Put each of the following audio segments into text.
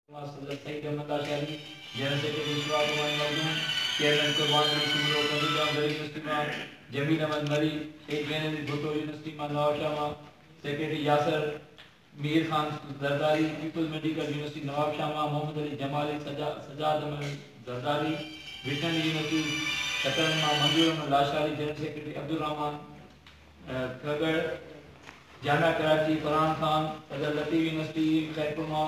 اجلاس صدر Syed Ahmed Achari, general secretary Shoaib Nomani Makhdoom, chairman Qurban Ali Soomro, Qamar Jan Zareen university مان Jamil Ahmed Marri, A G N Ali Bhutto university مان نوابشاهه مان secretary Yasir Mir Khan Zardari, peoples medical university Nawabshah مان محمد علي جمالي، سجاد احمد زرداري، وٽنري يونيورسٽي سڪرنڊ مان منظور احمد لاشاري، جنرل سيڪريٽري عبدالرحمان. کهڳڙ، جانا ڪراچي، فرحان خان، فضل لطيف يونيورسٽي، خيرپور ماء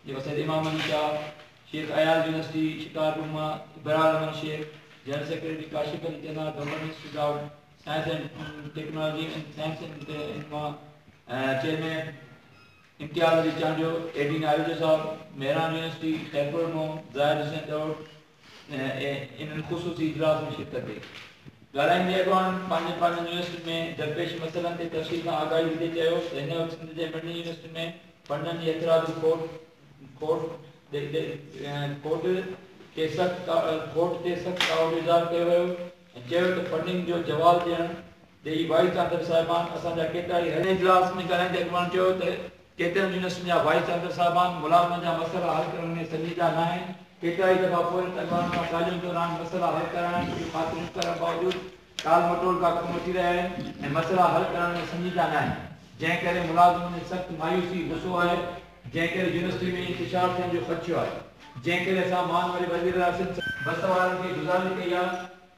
جي وسيلي امام علي شاهه، شيخ اياز يونيورسٽي، شڪارپور ماء Abrar Ahmed Shaikh, general secretary Kashif Ali Channa, governance without science and technology and science and ماء چيئرمين امتياز علي چانڊيو، اي ڊين آريجو صاحب، مهراڻ يونيورسٽي، خيرپور ماء زاهد حسين ڏهوڙ، ۽ انهن خصوصي اجلاس ۾ شرڪت ڪئي. ڳالهائيندي اڳواڻن پنهنجين پنهنجين يونيورسٽين ۾ درپيش مسئلن تي تفصيل سان آگاهي ڏيندي چيو ته هن وقت سنڌ جي مڙني يونيورسٽين ۾ فنڊن جي هٿرادو کوٽ کوٽ کوٽ تي سخت ڪاوڙ جو اظهار ڪيو ويو ۽ چيو ته فنڊنگ جو زوال ڏيڻ ڊيلي وائيس چانسلر صاحبان اسان جا ڪيترائي هيئرنگ اجلاس ۾ ڳالهائيندي اڳواڻ چيو ته ڪيترن يونيورسٽين جا وائيس چانسلر صاحبان ملازمن جا مسئلا حل ڪرڻ ۾ سنجيده ناهن، ڪيترائي دفعا پورهيت اڳواڻن سان ڳالهين دوران مسئلا حل ڪرائڻ جون خاطريون ڪرڻ باوجود ٽال مٽول جا ڪم وٺي رهيا آهن ۽ مسئلا حل ڪرڻ ۾ سنجيده ناهن جنهن ڪري ملازمن ۾ سخت مايوسي غصو آهي جنهن ڪري يونيورسٽي ۾ انتشار ٿيڻ جو خدشو آهي جنهن ڪري اسان مان وري وزيراعظم سان بس وارن کي گذارش ڪئي آهي.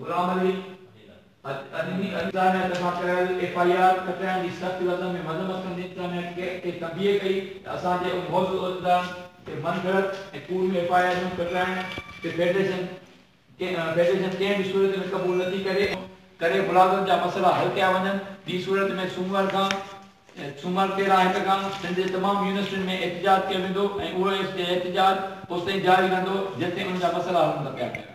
غلام علي ادي جي انٽرنيٽ سان ڪيل ايف آء آر ڪٽائڻ جي سخت لفظن ۾ مذمت ڪندي انٽرنيٽ ڪيپ تي تنبيهه ڪئي ته اسان جي ان موضوع عهديدارن تي من گهڙت ۽ ڪوڙ ۾ ايف آء آرون ڪٽرائڻ کي فيڊريشن فيڊريشن ڪنهن به صورت ۾ قبول نه ٿي ڪري ان ڪري ملازمن جا مسئلا حل ڪيا وڃن ٻي صورت ۾ سومر کان سومر تيرهن هڪ کان سنڌ جي تمام يونيورسٽين ۾ احتجاج ڪيو ويندو ۽ اهو احتجاج اوستائين جاري رهندو جيستائين ان جا مسئلا حل نه ڪيا ويندا.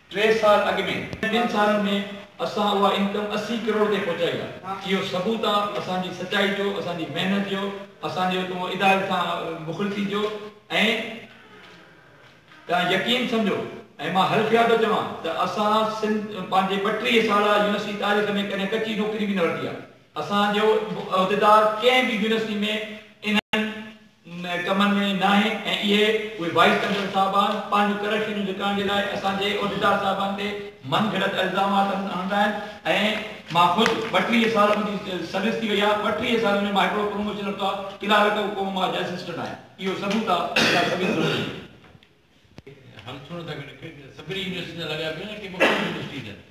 ٽي سال اڳ ۾، ٻن سالن ۾ اسان اها انڪم اسي ڪروڙ تي پهچائي آهي، اهو ثبوت آهي اسان جي سچائي جو، اسان جي محنت جو، اسان جي اتوهون اداري سان مخلصي جو ۽ توهان يقين سمجهو ۽ مان حلفيا ٿو چوان ته اسان سنڌ پنهنجي ٻٽيهه سالا يونيورسٽي تاريخ ۾ ڪڏهن ڪچي نوڪري به نه ورتي آهي، اسان جو عهديدار ڪنهن به يونيورسٽي ۾ انهن ڪمن ۾ ناهي ۽ اهي اهي وائيس چينسلر صاحبان پنهنجو ڪرپشن جون لڪائڻ جي لاء اسان جي عهديدار صاحبان تي من گهڙت الزامات هڻندا آهن ۽ مان خود ٻٽيهه سال منهنجي سروس ٿي وئي آهي ٻٽيهه سالن ۾ مان هڪڙو پروموشن ورتو آهي ڪلارڪ حڪومت مان اڄ اسسٽنٽ آهيان اهو ثبوت آهي جيڪا سڀيئي سامهون آهي.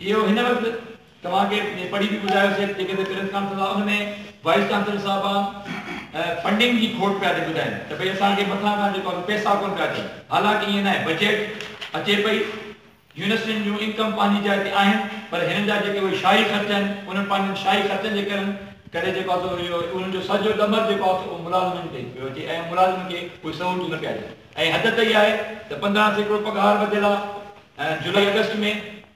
اهو هن وقت توهان کي پڙهي به ٻڌايو سي جيڪي ته پريس ڪانفرنس آف ان ۾ وائيس چانسلر صاحبان فنڊنگ جي کوٽ پيا ٿي ٻڌائين ته ڀئي اسان کي مٿان کان جيڪو آهي پيسا ڪونه پيا اچن حالانڪ ائين ناهي بجيٽ اچي پئي يونيورسٽين جون انڪم پنهنجي جاء تي آهن پر هنن جا جيڪي اهي شاهي خرچ آهن انهن پنهنجن شاهي خرچن جي ڪرن ڪري جيڪو آهي سو اهو انهن جو سڄو ڏمر جيڪو آهي سو اهو ملازمن تي پيو اچي ۽ ملازمن کي اهي سهولتون نه پيا ڏين ۽ حد ته اها آهي ته پندرهن سيڪڙو پگهار وڌيل آهي جولائي آگسٽ ۾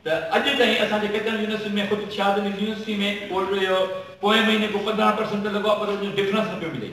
ته اڄ تائين اسان جي ڪيترن يونيورسٽين ۾ خود شاهد علي يونيورسٽي ۾ اهو پوئين مهيني ڪو پندرهن پرسنٽ ته لڳو آهي پر ان جو ڊفرنس نه پيو ملي.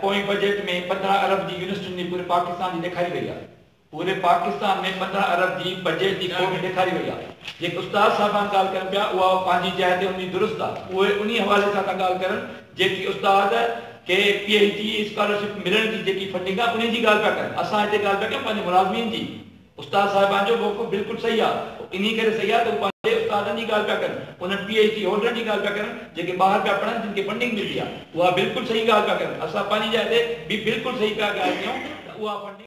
پوئين بجيٽ ۾ پندرهن ارب جي يونيسٽن جي پوري پاڪستان جي ڏيکاري وئي آهي. پوري پاڪستان ۾ پندرهن ارب جي بجيٽ جي کوٽ ڏيکاري وئي آهي. جيڪي استاد صاحبان ڳالهه ڪن پيا اها پنهنجي جاء تي ان جي درست آهي. اهي انهي حوالي سان ٿا ڳالهه ڪرن جيڪي استاد کي پي ايڇ ڊي اسڪالرشپ ملڻ جي جيڪي فنڊنگ آهي انهي جي ڳالهه پيا ڪن. اسان هتي ڳالهه پيا ڪيون پنهنجي ملازمين جي. استاد صاحبان جو موقف بلڪل صحيح آ. اهو انهي ڪري صحيح آ ته هو پنهنجي استادن جي ڳالهه پيا ڪن. انهن پي ايڇ ڊي هولڊرن جي ڳالهه پيا ڪرن جيڪي ٻاهر پيا پڙهن جن کي فنڊنگ ملي آ. اها بلڪل صحيح ڳالهه پيا ڪرن. اسان پنهنجي جاء تي به بلڪل صحيح پيا ڳالهه ڪيون ته اها فنڊنگ.